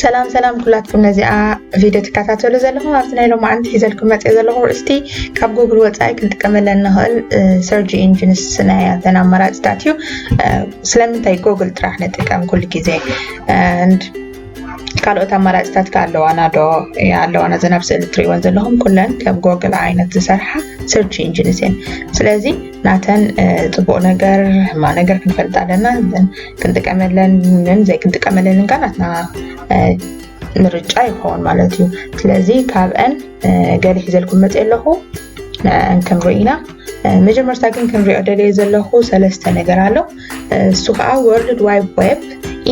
ሰላም ሰላም ኩላትኩም ነዚኣ ቪድዮ ትከታተሉ ዘለኹም ኣብቲ ናይ ሎማዓንቲ ሒዘልኩም መፅኦ ዘለኹ ርእስቲ ካብ ጉግል ወፃኢ ክንጥቀመለ እንኽእል ሰርጂ ኢንጂንስ ናይ ኣተን ኣማራፅታት እዩ ስለምንታይ ጎግል ጥራሕ ንጥቀም ኩሉ ግዜ ካልኦት ኣማራፅታት ከ ኣለዋና ዶ? እየ ኣለዋና እዘን ኣብ ስእሊ እትሪእወን ዘለኹም ኩለን ከም ጎግል ዓይነት ዝሰርሓ ሰርች ኢንጂንስ እየን። ስለዚ ናተን ፅቡቅ ነገር ሕማ ነገር ክንፈልጥ ኣለና ክንጥቀመለንን ዘይክንጥቀመለንን ከ ናትና ምርጫ ይኸውን ማለት እዩ። ስለዚ ካብአን ገለ ሒዘልኩም መፅእ ኣለኹ ንዕአን ክንርኢ ኢና። መጀመርታ ግን ክንሪኦ ደልየ ዘለኹ ሰለስተ ነገር ኣሎ። እሱ ከዓ ወርልድ ዋይድ ዌብ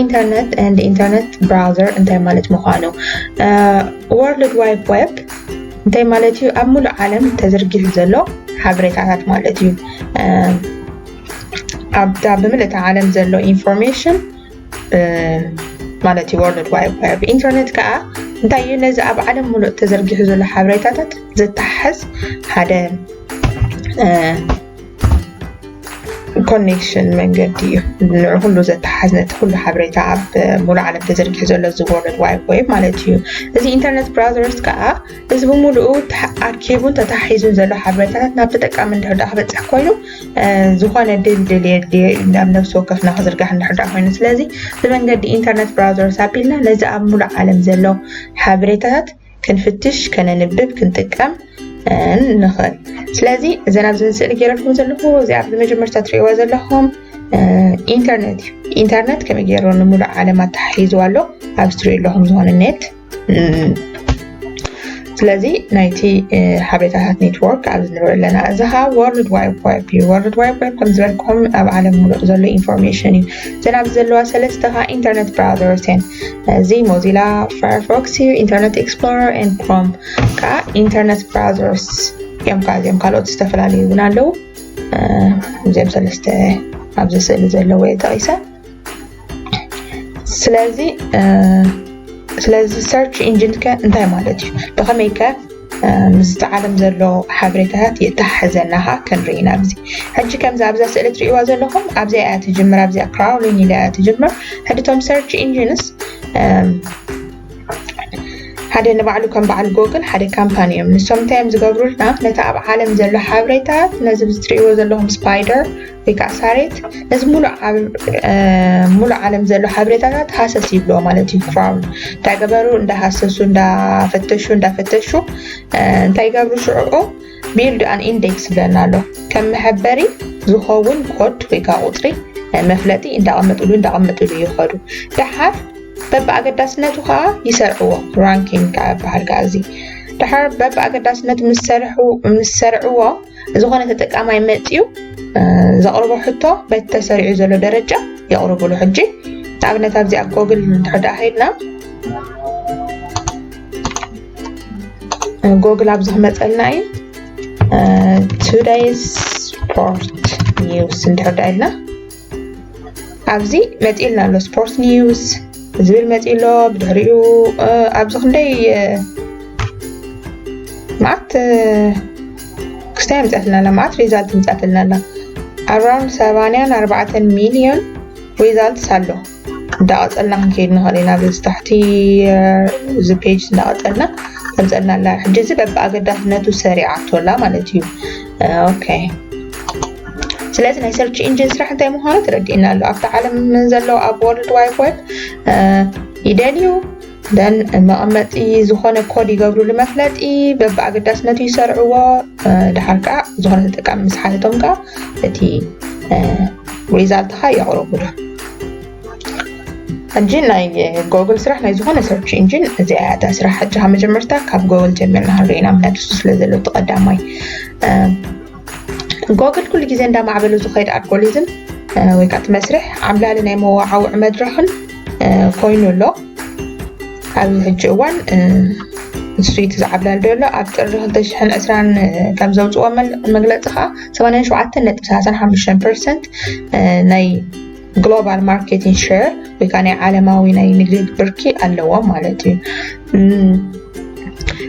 ኢንተርነት ንድ ኢንተርነት ብራውዘር እንታይ ማለት ምኳኑ ወርልድ ዋይድ ዌብ እንታይ ማለት እዩ ኣብ ሙሉእ ዓለም ተዘርጊሑ ዘሎ ሓበሬታታት ማለት እዩ ኣብታ ብምልእቲ ዓለም ዘሎ ኢንፎርሜሽን ማለት እዩ ወርልድ ዋይድ ዌብ ኢንተርነት ከዓ እንታይ እዩ ነዚ ኣብ ዓለም ሙሉእ ተዘርጊሑ ዘሎ ሓበሬታታት ዘተሓሕዝ ሓደ ኮኔክሽን መንገዲ እዩ ንዕ ኩሉ ዘተሓዝ ነቲ ኩሉ ሓበሬታ ኣብ ሙሉእ ዓለም ተዘርጊሑ ዘሎ እዚ ወርልድ ዋይድ ወይ ማለት እዩ እዚ ኢንተርነት ብራዘርስ ከዓ እዚ ብምሉኡ ኣርኪቡን ተታሒዙን ዘሎ ሓበሬታታት ናብ ተጠቃሚ እንድሕዳ ክበፅሕ ኮይኑ ዝኾነ ድልድል የድልየ እዩ ናብ ነብሲ ወከፍና ክዝርጋሕ እንድሕዳ ኮይኑ ስለዚ ብመንገዲ ኢንተርነት ብራዘርስ ኣቢልና ነዚ ኣብ ሙሉእ ዓለም ዘሎ ሓበሬታታት ክንፍትሽ ከነንብብ ክንጥቀም ንኽእል ስለዚ እዘን ኣብዚ ስእሊ ገይረልኩም ዘለኹ እዚኣ ብመጀመርታ ትሪእዋ ዘለኹም ኢንተርነት እዩ ኢንተርነት ከመይ ገይሩ ንምሉእ ዓለም ኣተሓሒዝዋ ኣሎ ኣብ ስትሪኦ ኣለኹም ዝኾነ ኔት ስለዚ ናይቲ ሓበሬታታት ኔትወርክ ኣብ ንርኢ ኣለና እዚ ከዓ ወርልድ ዋይድ ዌብ እዩ ወርልድ ዋይድ ዌብ ከም ዝበልኩም ኣብ ዓለም ሙሉእ ዘሎ ኢንፎርሜሽን እዩ እዘን ኣብዚ ዘለዋ ሰለስተ ከዓ ኢንተርነት ብራውዘርስ እየን እዚ ሞዚላ ፋየርፎክስ እዩ ኢንተርነት ኤክስፕሎረር ን ክሮም ከዓ ኢንተርነት ብራዘርስ እዮም ከዓ እዚኦም ካልኦት ዝተፈላለዩ እውን ኣለዉ እዚኦም ሰለስተ ኣብዚ ስእሊ ዘለዎ እየ ጠቂሰ ስለዚ ስለዚ ሰርች ኢንጂን ከ እንታይ ማለት እዩ ብከመይ ከ ምስቲ ዓለም ዘሎ ሓበሬታታት የተሓሕዘና ከ ክንርኢ ኢና ኣብዚ ሕጂ ከምዚ ኣብዛ ስእሊ ትሪእዋ ዘለኹም ኣብዚኣ እያ ትጅምር ኣብዚኣ ክራውሊን ኢላ እያ ትጅምር ሕጂ እቶም ሰርች ኢንጂንስ ሓደ ንባዕሉ ከም በዓል ጎግል ሓደ ካምፓኒ እዮም ንሶም እንታይ እዮም ዝገብሩልና ነቲ ኣብ ዓለም ዘሎ ሓበሬታት ነዚ ትሪእዎ ዘለኹም ስፓይደር ወይ ከዓ ሳሬት ነዚ ሙሉእ ዓለም ዘሎ ሓበሬታታት ሃሰስ ይብሎ ማለት እዩ ክራውን እንታይ ገበሩ እንዳሃሰሱ እንዳፈተሹ እንዳፈተሹ እንታይ ይገብሩ ሽዑኡ ቢልድ ኣን ኢንዴክስ ይብለና ኣሎ ከም መሐበሪ ዝኸውን ኮድ ወይ ከዓ ቁፅሪ መፍለጢ እንዳቐመጥሉ እንዳቐመጥሉ ይኸዱ ደሓር በብኣገዳስነቱ ከዓ ይሰርዕዎ ራንኪንግ ከዓ ይበሃል ከዓ እዚ ደሓር በብኣገዳስነቱ ምስ ሰርዕዎ ዝኾነ ተጠቃማይ መፅዩ ዘቕርቦ ሕቶ በቲ ተሰሪዑ ዘሎ ደረጃ የቕርብሉ ሕጂ ንኣብነት ኣብዚ ኣብ ጎግል እንድሕር ደኣ ከይድና ጎግል ኣብዚ ክመፀልና እዩ ቱደይስ ስፖርት ኒውስ እንድሕር ደኣ ኢልና ኣብዚ መፂኡ ልና ኣሎ ስፖርት ኒውስ ዝብል መፂኡ ኣሎ ብድሕሪኡ ኣብዚ ክንደይ መዓት ክስታይ ኣምፅኣትና ኣላ መዓት ሪዛልት ኣምፅኣትና ኣላ ኣራውንድ ሰባንያን ኣርባዕተን ሚልዮን ሪዛልትስ ኣሎ እንዳቐፀልና ክንከይድ ንኽእል ኢና በዚ ታሕቲ እዚ ፔጅ እንዳቐፀልና ተምፀልና ኣላ ሕጂ እዚ በብኣገዳስነቱ ሰሪዓቶ ኣላ ማለት እዩ ኦኬ ስለዚ ናይ ሰርች ኢንጂን ስራሕ እንታይ ምዃኑ ተረዲእና ኣሎ ኣብቲ ዓለም ዘለዉ ኣብ ወርልድ ዋይድ ወብ ይደልዩ ደን መቐመጢ ዝኾነ ኮድ ይገብርሉ መፍለጢ በብኣገዳስነቱ ይሰርዕዎ ድሓር ከዓ ዝኾነ ተጠቃሚ ምስ ሓተቶም ከዓ እቲ ሪዛልትኻ የቕርቡሉ ሕጂ ናይ ጎግል ስራሕ ናይ ዝኾነ ሰርች ኢንጂን እዚኣ እያ እታ ስራሕ ሕጂ ካብ መጀመርታ ካብ ጎግል ጀሚርና ክንሪኢና ምክንያቱ እሱ ስለ ዘሎ እቲ ቀዳማይ ጎግል ኩሉ ግዜ እንዳማዕበሉ ዝኸይድ ኣልጎሪዝም ወይ ከዓ እቲ መስርሕ ዓብላሊ ናይ መዋዓውዒ መድረኽን ኮይኑ ኣሎ ኣብዚ ሕጂ እዋን ንሱ እቲ ዝዓብላሊ ዘሎ ኣብ ጥሪ 220 ከም ዘውፅዎ መግለፂ ከዓ 87 ነጥቢ 35 ፐርሰንት ናይ ግሎባል ማርኬትን ሸር ወይ ከዓ ናይ ዓለማዊ ናይ ንግዲ ብርኪ ኣለዎም ማለት እዩ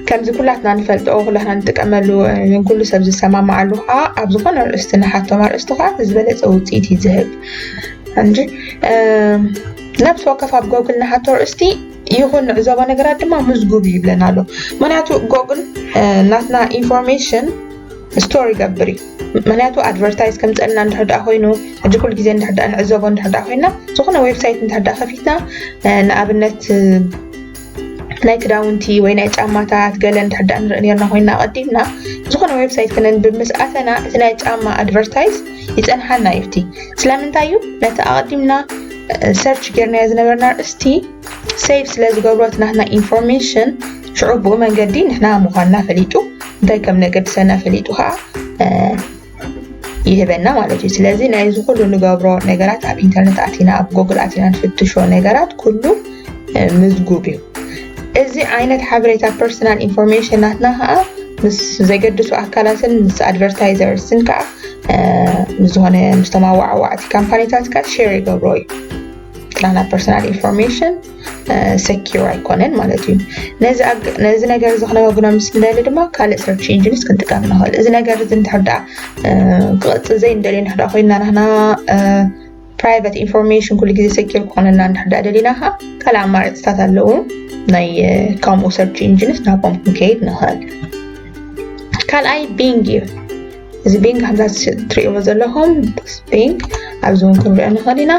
ከምዚ ኩላትና ንፈልጦ ኩላትና ንጥቀመሉ ንኩሉ ሰብ ዝሰማማዓሉ ከዓ ኣብ ዝኾነ ርእስቲ ንሓቶም ኣርእስቲ ከዓ ዝበለፀ ውፅኢት እዩ ዝህብ እንጂ ነብሲ ወከፍ ኣብ ጎግል ንሓቶ ርእስቲ ይኹን ንዕዘቦ ነገራት ድማ ምዝጉብ ይብለና ኣሎ ምክንያቱ ጎግል ናትና ኢንፎርሜሽን ስቶር ይገብር እዩ ምክንያቱ ኣድቨርታይዝ ከምፀልና እንድሕር ድኣ ኮይኑ ሕጂ ኩሉ ግዜ እንድሕር ድኣ ንዕዘቦ እንድሕር ድኣ ኮይና ዝኾነ ዌብሳይት እንድሕር ድኣ ከፊትና ንኣብነት ናይ ክዳውንቲ ወይ ናይ ጫማታት ገለ እንድሕር ድኣ ንርኢ ነርና ኮይና ቀዲምና ዝኾነ ዌብሳይት ክነንብብ ምስ ኣተና እቲ ናይ ጫማ ኣድቨርታይዝ ይፀንሓና እዩ እቲ ስለምንታይ እዩ ነቲ ኣቐዲምና ሰርች ጌርናዮ ዝነበርና ርእስቲ ሴቭ ስለ ዝገብሮ እቲ ናትና ኢንፎርሜሽን ሽዑ ብኡ መንገዲ ንሕና ምዃንና ፈሊጡ እንታይ ከም ነገድሰና ፈሊጡ ከዓ ይህበና ማለት እዩ ስለዚ ናይዚ ኩሉ ንገብሮ ነገራት ኣብ ኢንተርነት ኣቲና ኣብ ጎግል ኣቲና ንፍትሾ ነገራት ኩሉ ምዝጉብ እዩ እዚ ዓይነት ሓበሬታ ፐርሰናል ኢንፎርሜሽን ናትና ከዓ ምስ ዘገድሱ ኣካላትን ምስ ኣድቨርታይዘርስን ከዓ ዝኾነ ምስ ተማዋዕዋዕቲ ካምፓኒታት ከዓ ሸር ይገብሮ እዩ ናትና ፐርሰናል ኢንፎርሜሽን ሰኪር ኣይኮነን ማለት እዩ ነዚ ነገር እዚ ክነወግኖ ምስ ንደሊ ድማ ካልእ ሰርች ኢንጂንስ ክንጥቀም ንኽእል እዚ ነገር እዚ እንድሕር ደኣ ክቕፅል ዘይንደልዮ እንድሕር ኮይና ናህና ፕራይቨት ኢንፎርሜሽን ኩሉ ግዜ ሰኪር ክኾነና እንድሕር ደኣ ደሊና ከዓ ካልእ ኣማራፅታት ኣለዉ ናይ ከምኡ ሰርች ኢንጂንስ ናብኦም ክንከይድ ንኽእል ካልኣይ ቢንግ እዩ እዚ ቢንግ ከምዛ ትሪእዎ ዘለኹም ቢንግ ኣብዚ እውን ክንሪኦ ንኽእል ኢና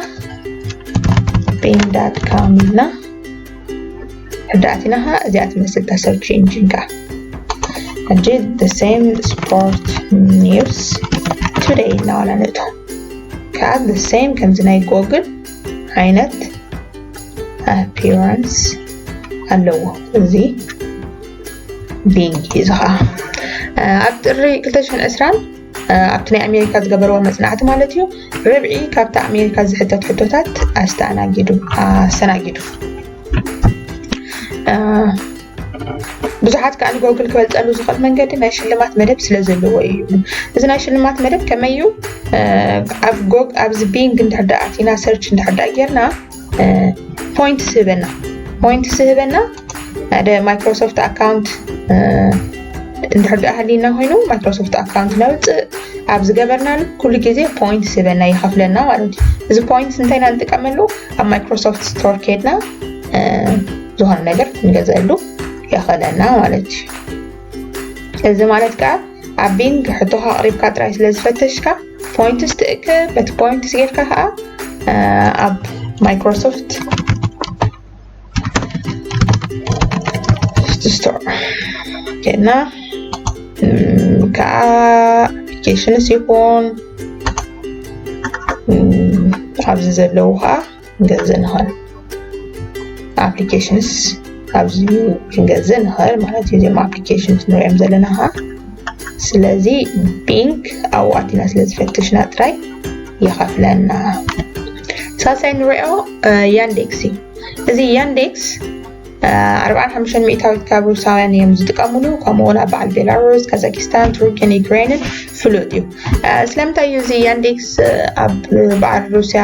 ቢንግ ዳት ካም ኢልና ሕዳእቲና ከዓ እዚኣ ትመስል እታ ሰርች ኢንጂን ከዓ ሕጂ the same sport news today ኢልና ዋላ ንእቶ ከዓ the same ከምዚ ናይ ጎግል ዓይነት appearance ኣለዎ እዚ ቢንግ እዚ ከዓ ኣብ ጥሪ 2020 ኣብቲ ናይ ኣሜሪካ ዝገበርዎ መፅናዕቲ ማለት እዩ ርብዒ ካብቲ ኣሜሪካ ዝሕተት ሕቶታት ኣስተኣናጊዱ ኣስተናጊዱ ብዙሓት ከዓ ንጎግል ክበልፀሉ ዝኽእል መንገዲ ናይ ሽልማት መደብ ስለ ዘለዎ እዩ እዚ ናይ ሽልማት መደብ ከመይ እዩ ኣብ ኣብዚ ቢንግ እንድሕር ኣቲና ሰርች እንድሕር ጌርና ፖይንትስ ህበና ፖይንትስ ህበና ሓደ ማይክሮሶፍት ኣካውንት እንድሕር ድኣ ሃሊና ኮይኑ ማይክሮሶፍት ኣካውንት ነውፅእ ኣብ ዝገበርናሉ ኩሉ ግዜ ፖይንት ስበና ይኸፍለና ማለት እዩ እዚ ፖይንት እንታይ ኢና ንጥቀመሉ ኣብ ማይክሮሶፍት ስቶር ከድና ዝኾነ ነገር ክንገዘሉ የኸለና ማለት እዩ እዚ ማለት ከዓ ኣብ ቢንግ ሕቶኻ ኣቕሪብካ ጥራይ ስለ ዝፈተሽካ ፖይንትስ ትእክብ በቲ ፖይንትስ ጌርካ ከዓ ኣብ ማይክሮሶፍት ስቶር ጌርና ከዓ ኣፕሊኬሽንስ ይኹን ኣብዚ ዘለዉ ከዓ ክንገዝእ ንኽእል ኣፕሊኬሽንስ ካብዚ ክንገዝእ ንኽእል ማለት እዩ እዚኦም ኣፕሊኬሽንስ ንሪኦም ዘለና ከዓ ስለዚ ቢንክ ኣብኡ ኣቲና ስለ ዝፈተሽና ጥራይ ይኸፍለና ሳልሳይ ንሪኦ ያንዴክስ እዩ እዚ ያንዴክስ ኣርብዓን ሓሙሽተን ሚእታዊት ካብ ሩሳውያን እዮም ዝጥቀምሉ ከምኡ ውን ኣብ በዓል ቤላሩስ ካዛኪስታን ቱርኪን ዩክሬንን ፍሉጥ እዩ ስለምንታይ እዩ እዚ ያንዴክስ ኣብ በዓል ሩስያ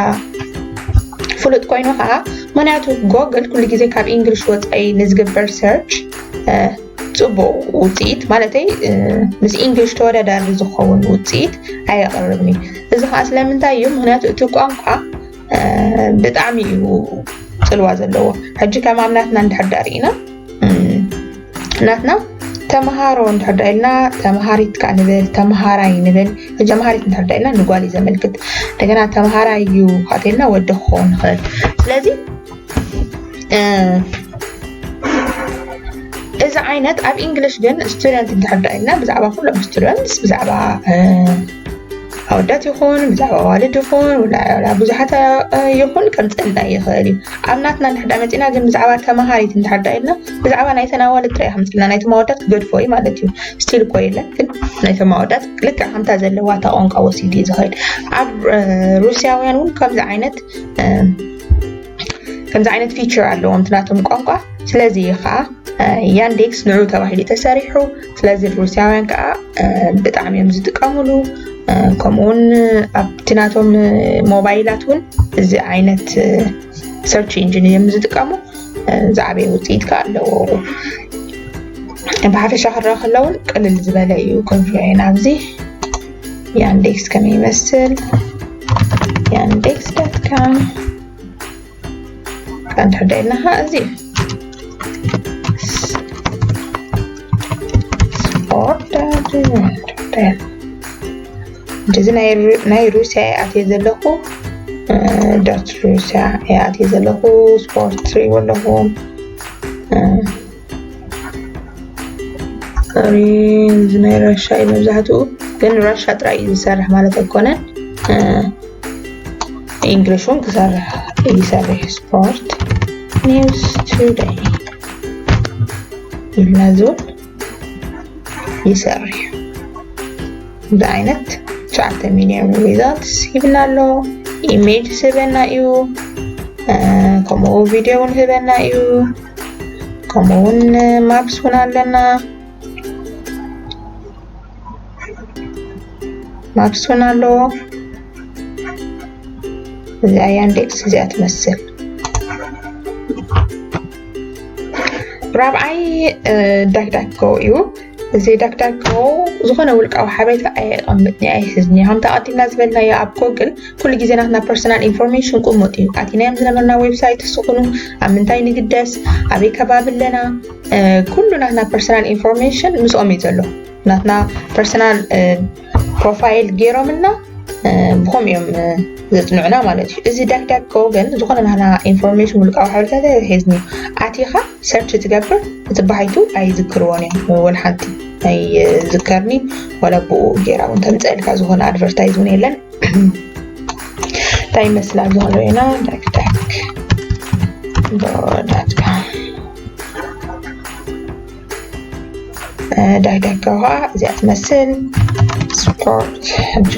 ፍሉጥ ኮይኑ ከዓ ምክንያቱ ጎግል ኩሉ ግዜ ካብ እንግሊሽ ወፃኢ ንዝግበር ሰርች ፅቡቅ ውፅኢት ማለተይ ምስ እንግሊሽ ተወዳዳሪ ዝኸውን ውፅኢት ኣየቅርብን እዩ እዚ ከዓ ስለምንታይ እዩ ምክንያቱ እቲ ቋንቋ ብጣዕሚ እዩ ፅልዋ ዘለዎ ሕጂ ከም ኣብ ናትና እንድሕር ዳ ርኢና ናትና ተምሃሮ እንድሕር ዳ ኢልና ተምሃሪት ከዓ ንብል ተምሃራይ ንብል ሕጂ ተምሃሪት እንድሕር ዳ ኢልና ንጓል እዩ ዘመልክት እንደገና ተምሃራይ እዩ ካተኢልና ወዲ ክኸውን ይኽእል ስለዚ እዚ ዓይነት ኣብ ኢንግሊሽ ግን ስቱደንት እንተሕዳ ኢልና ብዛዕባ ኩሎም ስቱደንትስ ብዛዕባ ኣወዳት ይኹን ብዛዕባ ኣዋልድ ይኹን ብዙሓት ይኹን ከምፀልና ይኽእል እዩ ኣብ ናትና እንድሕዳ መፂና ግን ብዛዕባ ተምሃሪት እንድሕዳ ኢልና ብዛዕባ ናይ ተናዋልድ ጥራይ ከምፅልና ናይ ተማወዳት ክገድፎ እዩ ማለት እዩ ስቲል እኮ የለን ግን ናይ ተማወዳት ልክዕ ከምታ ዘለዋ እታ ቋንቋ ወሲዱ እዩ ዝኸይድ ኣብ ሩስያውያን እውን ከምዚ ዓይነት ከምዚ ዓይነት ፊቸር ኣለዎም ናቶም ቋንቋ ስለዚ እዩ ከዓ ያንዴክስ ንዑ ተባሂሉ ተሰሪሑ ስለዚ ሩስያውያን ከዓ ብጣዕሚ እዮም ዝጥቀምሉ ከምኡውን ኣብቲ ናቶም ሞባይላት እውን እዚ ዓይነት ሰርች ኢንጂን እዮም ዝጥቀሙ ዝዓበየ ውፅኢት ከዓ ኣለዎ ብሓፈሻ ክረአ ከለውን ቅልል ዝበለ እዩ ክንሪኦ ኢና ኣብዚ ያንዴክስ ከመይ ይመስል ያንዴክስ ዳት ካም እንድሕር ደኢልና ከዓ እዚ ስፖርት እንደዚ ናይ ሩስያ ይኣትየ ዘለኹ ዳት ሩስያ ይኣትየ ዘለኹ ስፖርት ትሪእዎ ኣለኹ ኦሬንጅ ናይ ራሻ እዩ መብዛሕትኡ ግን ራሻ ጥራይ እዩ ዝሰርሕ ማለት ኣይኮነን ኢንግሊሽ እውን ክሰርሕ ይሰርሕ ስፖርት ኒውስ ቱደይ ኢልና እዚ እውን ይሰርሕ እዚ ዓይነት ትሽዓተ ሚሊዮን ሪዛልትስ ይብና ኣሎ ኢሜጅ ስበና እዩ ከምኡ ቪድዮ እውን ህበና እዩ ከምኡ እውን ማፕስ እውን ኣለና ማፕስ እውን ኣለዎ እዚኣ ያንዴክስ እዚኣ ትመስል ራብዓይ ዳክዳክ ጎ እዩ ዘይዳግዳግዎ ዝኾነ ውልቃዊ ሓበሬታ ኣየቐምጥኒ ኣይሕዝኒ ከምቲ ኣቐዲምና ዝበልናዮ ኣብ ጎግል ኩሉ ግዜ ናትና ፐርሰናል ኢንፎርሜሽን ቁሙጥ እዩ ኣቲናዮም ዝነበርና ዌብሳይት ስኹኑ ኣብ ምንታይ ንግደስ ኣበይ ከባቢ ኣለና ኩሉ ናትና ፐርሰናል ኢንፎርሜሽን ምስኦም እዩ ዘሎ ናትና ፐርሰናል ፕሮፋይል ገይሮምልና ብኸም እዮም ዘፅንዑና ማለት እዩ እዚ ዳግዳግ ከ ግን ዝኾነ ናህና ኢንፎርሜሽን ውልቃዊ ሓበሬታት ኣይሕዝኒ ኣቲኻ ሰርች ትገብር እቲ ባሃይቱ ኣይዝክርዎን እዮም ወል ሓንቲ ኣይዝከርኒ ወላ ብኡ ገይራ እውን ተምፀእልካ ዝኾነ ኣድቨርታይዝ እውን የለን እንታይ ይመስላ ዝኮነ ኢና ዳግዳግ ዳትካ ዳይዳካ ውሃ እዚኣ ትመስል ስፖርት ሕጂ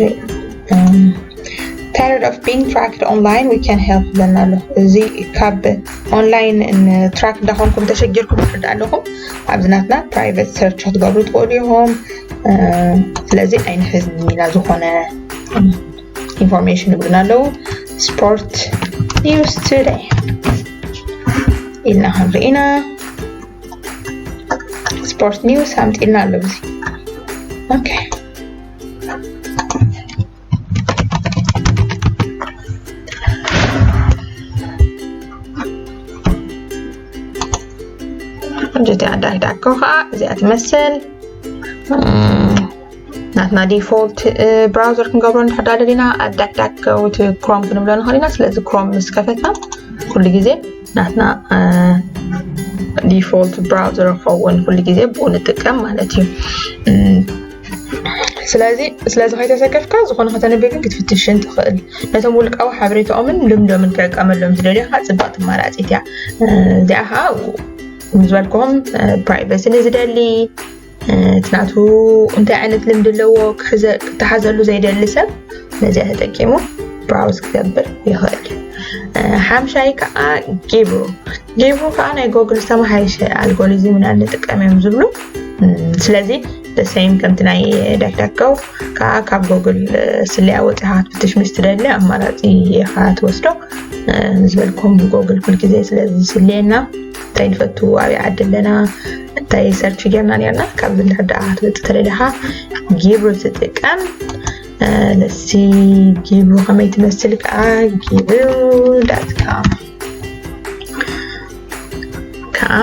ታይርድ ኦፍ ቢንግ ትራክድ ኦንላይን ዊ ካን ሄልፕ ይብለና ኣሎ እዚ ካብ ኦንላይን ትራክ እንዳኾንኩም ተሸጊርኩም ትርዳ ኣለኹም ኣብዚ ናትና ፕራይቨት ሰርች ክትገብሩ ትኽእሉ ኢኹም ስለዚ ኣይንሕዝኒ ኢና ዝኾነ ኢንፎርሜሽን ይብሉና ኣለዉ ስፖርት ኒውስ ቱደይ ኢልና ክንርኢ ኢና ስፖርት ኒውስ ኣምፂና ኣሎ እዚ ኦኬ ከምዚቲ ኣዳሂዳኮ ከዓ እዚኣ ትመስል ናትና ዲፎልት ብራውዘር ክንገብሮ ንድሕዳ ደሊና ኣዳዳክ ክሮም ክንብሎ ንኽእል ኢና ስለዚ ክሮም ምስ ከፈትና ኩሉ ግዜ ናትና ዲፎልት ብራውዘር ክኸውን ኩሉ ግዜ ብኡ ንጥቀም ማለት እዩ ስለዚ ስለዚ ከይተሰከፍካ ዝኾነ ከተንብብ ግን ክትፍትሽን ትኽእል ነቶም ውልቃዊ ሓበሬታኦምን ልምዶምን ክዕቀመሎም ዝደልዮ ከዓ ፅባቅ ትመራፂት እያ እዚኣ ከዓ ዝበልክዎም ፕራይቨሲ ንዝደሊ እቲ ናቱ እንታይ ዓይነት ልምዲ ኣለዎ ክተሓዘሉ ዘይደሊ ሰብ ነዚኣ ተጠቂሙ ብራውዝ ክገብር ይኽእል ሓምሻይ ከዓ ጊብሩ ጊብሩ ከዓ ናይ ጎግል ዝተመሓየሸ ኣልጎሪዝም ኢና ንጥቀም እዮም ዝብሉ ስለዚ ሰይም ከምቲ ናይ ደክደከው ከዓ ካብ ጎግል ስለያ ወፂኻ ክትፍትሽ ምስ ትደሊ ኣማራፂ ኢኻ ትወስዶ ዝበልኩም ጎግል ኩልግዜ ስለዚ ስለየና እንታይ ንፈቱ ኣብይ ዓዲ ኣለና እንታይ ሰርች ጌርና ኔርና ካብዚ እንድሕር ደኣ ክትበፅ ተደሊኻ ጊብሩ ትጥቀም ለሲ ጊብሩ ከመይ ትመስል ከዓ ጊብሩ ዳትካም ከዓ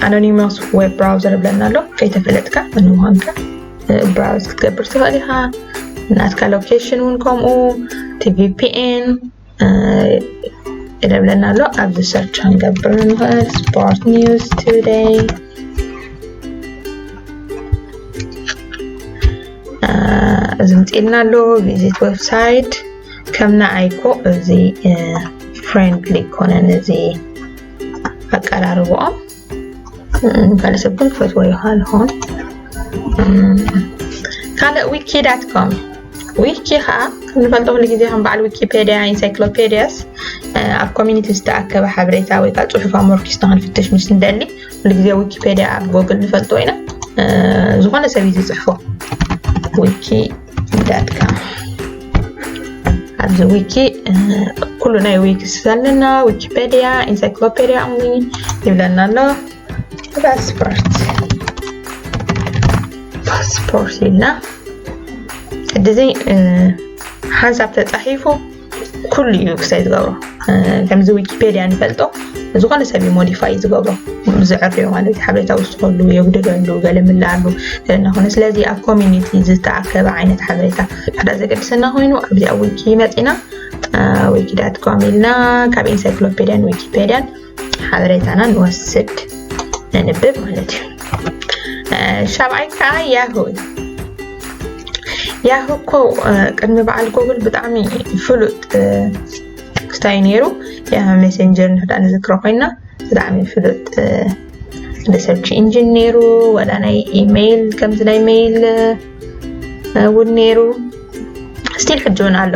ኣኖኒማስ ዌብ ብራውዘር ብለና ኣሎ ከይተፈለጥካ መን ምዃንካ ብራውዝ ክትገብር ትኽእል ኢኻ ናትካ ሎኬሽን እውን ከምኡ ቲቪፒኤን ይደብለና ኣሎ ኣብዚ ሰርች ክንገብር ንኽእል ስፖርት ኒውስ ቱደይ እዚ ምፅኢልና ኣሎ ቪዚት ዌብሳይት ከም ንኣይኮ እዚ ፍሬንድሊ ኮነን እዚ ኣቀራርብኦም ካልእ ሰብ ግን ክፈትዎ ይኽእል ይኸውን ካልእ ዊኪ ዳት ኮም ዊኪ ከዓ ንፈልጦ ኩሉ ግዜ ከም በዓል ዊኪፔድያ ኢንሳይክሎፔድያስ ኣብ ኮሚኒቲ ዝተኣከበ ሓበሬታ ወይ ከዓ ፅሑፍ ኣሞርኪስ ንክንፍትሽ ምስ ንደሊ ኩሉ ግዜ ዊኪፔድያ ኣብ ጎግል ንፈልጦ ኢና ዝኾነ ሰብ እዩ ዝፅሕፎ ዊኪ ዳት ካም ኣብዚ ዊኪ ኩሉ ናይ ዊኪ ዘለና ዊኪፔድያ ኢንሳይክሎፔድያ እምኒ ይብለና ኣሎ ፓስፖርት ፓስፖርት ኢልና ሕዚ ሓንሳብ ተፃሒፉ ኩሉ እዩ ክሳይ ዝገብሮ ከምዚ ዊኪፔድያ ንፈልጦ ዝኾነ ሰብ እዩ ሞዲፋይ ዝገብሮ ዝዕርዮ ማለት እዩ ሓበሬታ ውስኸሉ የጉድለሉ ገለ ምላሉ እናኾነ ስለዚ ኣብ ኮሚኒቲ ዝተኣከበ ዓይነት ሓበሬታ ሓደ ዘገድሰና ኮይኑ ኣብዚ ኣብ ዊኪ መፂና ዊኪዳት ኮም ኢልና ካብ ኢንሳይክሎፔድያን ዊኪፔድያን ሓበሬታና ንወስድ ነንብብ ማለት እዩ ሻብዓይ ከዓ ያሁ ያሁ እኮ ቅድሚ በዓል ጎግል ብጣዕሚ ፍሉጥ እንታይ እዩ ነይሩ ያሁ ሜሴንጀር ንሕዳ ንዝክሮ ኮይና ብጣዕሚ ፍሉጥ ሪሰርች ኢንጂን ነይሩ ወላ ናይ ኢሜይል ከምዚ ናይ ሜይል እውን ነይሩ ስቲል ሕጂ እውን ኣሎ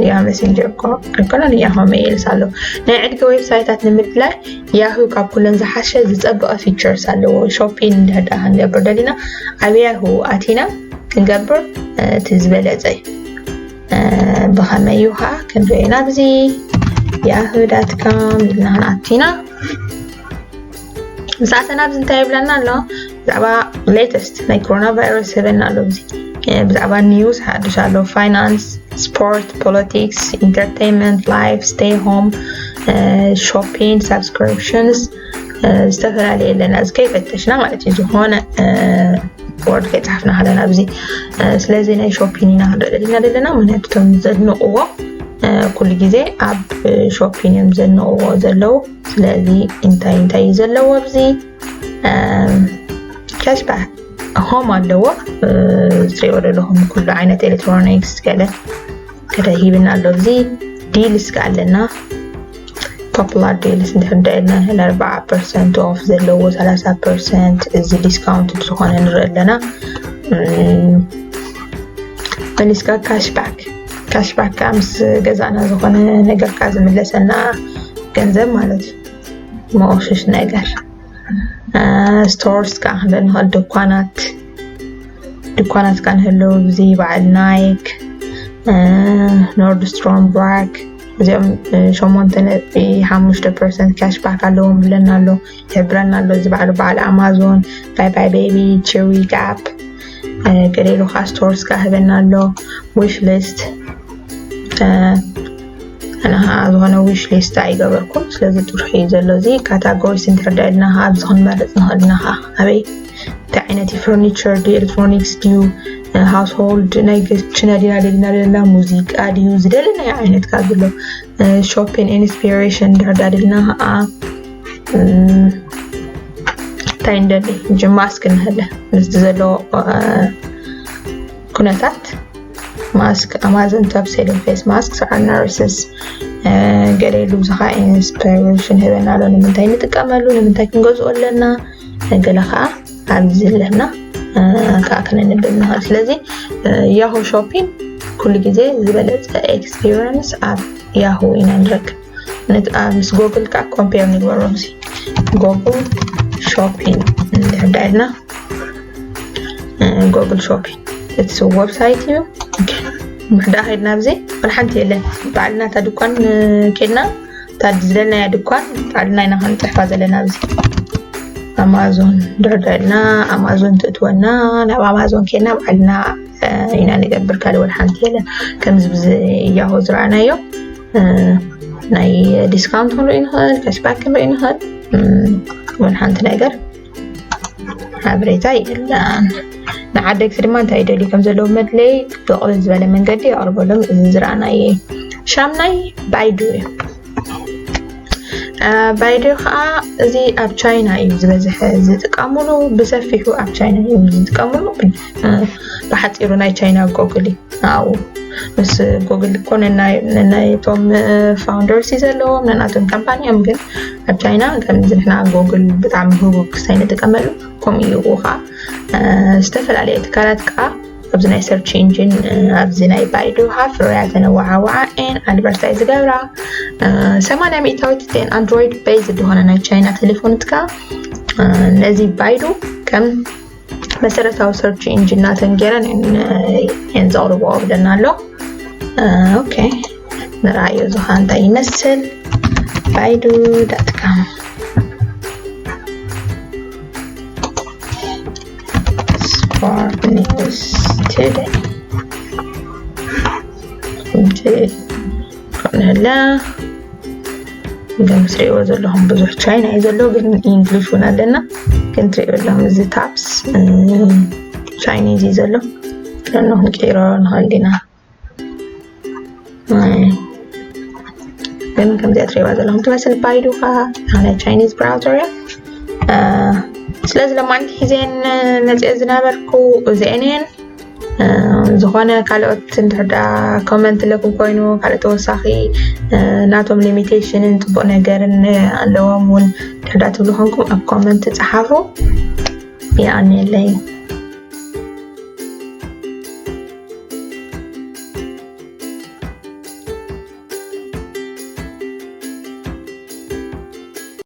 ያ መሴንጀር እኮ ኣይኮነን ያሆ መየልስ ኣሎ ናይ ዕድጊ ዌብሳይታት ንምድላይ ያሁ ካብ ኩለን ዝሓሸ ዝፀበቐ ፊቸርስ ኣለዎ ሾፒን እንድሕር ዳ ክንገብር ደሊና ኣብ ያሁ ኣቲና ክንገብር እቲ ዝበለፀ እዩ ብኸመይ እዩ ከዓ ክንሪኦ ኢና ብዚ ያሁ ዳት ካም ኢልና ክንኣቲና ምስ ኣተና ኣብዚ እንታይ ይብለና ኣሎ ብዛዕባ ሌተስት ናይ ኮሮና ቫይረስ ይህበና ኣሎ እዚ ብዛዕባ ኒውስ ሓድሽ ኣሎ ፋይናንስ ስፖርት ፖለቲክስ ኢንተርቴንመንት ላይፍ ስቴይ ሆም ሾፒንግ ሳብስክሪፕሽንስ ዝተፈላለየ ኣለና እዚ ከይፈተሽና ማለት እዩ ዝኾነ ወርድ ከይፅሓፍና ከለና ኣብዚ ስለዚ ናይ ሾፒን ኢና ክንርኢ ዘለና ዘለና ምክንያቱ እቶም ዘድንቕዎ ኩሉ ግዜ ኣብ ሾፒን እዮም ዘንቕዎ ዘለው ስለዚ እንታይ እንታይ እዩ ዘለዎ ኣብዚ ከሽባ ሆም ኣለዎ ዝሪኦ ዘለኹም ኩሉ ዓይነት ኤሌክትሮኒክስ ገለ ከደ ሂብና ኣሎ እዚ ዲልስ ከዓ ኣለና ፖፑላር ዲልስ እንድሕዳ ኢልና ንሕል ኣርባዓ ፐርሰንት ኦፍ ዘለዎ ሰላሳ ፐርሰንት እዚ ዲስካውንት ዝኾነ ንርኢ ኣለና መሊስካ ካሽባክ ካሽባክ ከዓ ምስ ገዛእና ዝኾነ ነገር ከዓ ዝምለሰና ገንዘብ ማለት እዩ መቆሸሽ ነገር ስቶርስ ከዓ ክንደ ንኽእል ድኳናት ድኳናት ከዓ ንህለው እዚ በዓል ናይክ ኖርድስትሮም ብራክ እዚኦም ሸሞንተ ነጥቢ ሓሙሽተ ፐርሰንት ካሽባክ ኣለዎም ብለና ኣሎ ይገብረና ኣሎ እዚ በዓሉ በዓል ኣማዞን ባይ ባይ ቤቢ ቺዊ ጋፕ ገሌሉ ከዓ ስቶርስ ከዓ ህበና ኣሎ ዊሽ ሊስት ኣነ ከዓ ዝኾነ ዊሽ ሊስት ኣይገበርኩም ስለዚ ጥርሑ እዩ ዘሎ እዚ ካታጎሪስ እንትርዳ ኢልና ከዓ ኣብዚ ክንመርፅ ንኽእል ኢና ከዓ ኣበይ እንታይ ዓይነት እዩ ፈርኒቸር ድዩ ኤሌክትሮኒክስ ድዩ ሃውስሆልድ ናይ ግችነ ዲና ደሊና ደለና ሙዚቃ ድዩ ዝደለናዮ ዓይነት ካብ ዘሎ ሾፒን ኢንስፒሬሽን ድርዳ ደልና ከዓ እንታይ እንደሊ ማስክ ንህለ ምስቲ ዘለዎ ኩነታት ማስክ ኣማዘን ቶፕ ሴሊንግ ፌስ ማስክ ሰዓር ናርስስ ገለ ኢሉ ብዙኻ ኢንስፓሬሽን ህበና ኣሎ ንምንታይ ንጥቀመሉ ንምንታይ ክንገዝኦ ኣለና ገለ ከዓ ኣብዚ ኣለና ከዓ ክንንብል ንኽእል ስለዚ ያሁ ሾፒንግ ኩሉ ግዜ ዝበለፀ ኤክስፒሪንስ ኣብ ያሁ ኢና ንረክብ ምስ ጎግል ከዓ ኮምፔር ንግበሮ ዚ ጎግል ሾፒንግ እንድሕዳ ኢልና ጎግል ሾፒንግ እቲ ወብሳይት እዩ ምሕዳ ከድና ብዘ ወላ ሓንቲ የለን ባዕልና እታ ድኳን ከድና እታ ዝደለናያ ድኳን ባዕልና ኢና ክንፅሕፋ ዘለና ብዚ ኣማዞን ድሕዳ ኢልና ኣማዞን ትእትወና ናብ ኣማዞን ከድና ባዕልና ኢና ንገብር ካልእ ወላ ሓንቲ የለን ከምዚ ብዚ ያሆ ዝረኣናዮ ናይ ዲስካውንት ክንርኢ ንኽእል ካሽባክ ክንርኢ ንኽእል እውን ሓንቲ ነገር ሓበሬታ የለን ንዓደግቲ ድማ እንታይ ይደልዩ ከም ዘለዉ መድለይ ብቕልል ዝበለ መንገዲ የቕርበሎም እዚ ዝረኣናየ ሻምናይ ባይዱ እዩ ባይዱ ከዓ እዚ ኣብ ቻይና እዩ ዝበዝሐ ዝጥቀምሉ ብሰፊሑ ኣብ ቻይና እዩ ዝጥቀምሉ ብሓፂሩ ናይ ቻይና ጎግል እዩ ንኣኡ ምስ ጎግል እኮ ነናይቶም ፋውንደርስ እዩ ዘለዎም ነናቶም ካምፓኒ እዮም ግን ኣብ ቻይና ከምዚ ንሕና ጎግል ብጣዕሚ ህቡብ ክሳይ ንጥቀመሉ ከምኡ እዩ ከዓ ዝተፈላለየ ትካላት ከዓ ኣብዚ ናይ ሰርች ኢንጂን ኣብዚ ናይ ባይዶ ሃፍ ሮያ ተነዋዓዋዓ ኤን ኣድቨርታይ ዝገብራ ሰማንያ ሚእታዊት ቴን ኣንድሮይድ ቤዝ ዝኾነ ናይ ቻይና ቴሌፎን ትካ ነዚ ባይዶ ከም መሰረታዊ ሰርች ኢንጂን ናተን ገይረን እየን ዘቕርብኦ ብለና ኣሎ ኦኬ ንርኣዮ እዚ ከዓ እንታይ ይመስል ባይዱ ዳትካም ስፖርት ኒውስ ቱደይ ንሕለ ኢሎም ትሪእዎ ዘለኹም ብዙሕ ቻይና እዩ ዘሎ ግን ኢንግሊሽ እውን ኣለና ግን ትሪእዎ ኣለኹም እዚ ታፕስ ቻይኒዝ እዩ ዘሎ ቀኖ ክንቀይሮ ንኽእል ኢና ግን ከምዚኣ ትሪእዋ ዘለኹም ትመስል ባይዱ ከዓ ናይ ቻይኒዝ ብራውዘር እያ ስለዚ ለማንቲ ሒዘን መፅኦ ዝነበርኩ እዚአን እየን ዝኾነ ካልኦት እንድሕር ደኣ ኮመንት ለኩም ኮይኑ ካልእ ተወሳኺ ናቶም ሊሚቴሽንን ፅቡቅ ነገርን ኣለዎም እውን እንድሕር ደኣ ትብሉ ኮንኩም ኣብ ኮመንት ፀሓፉ ይኣንየለይ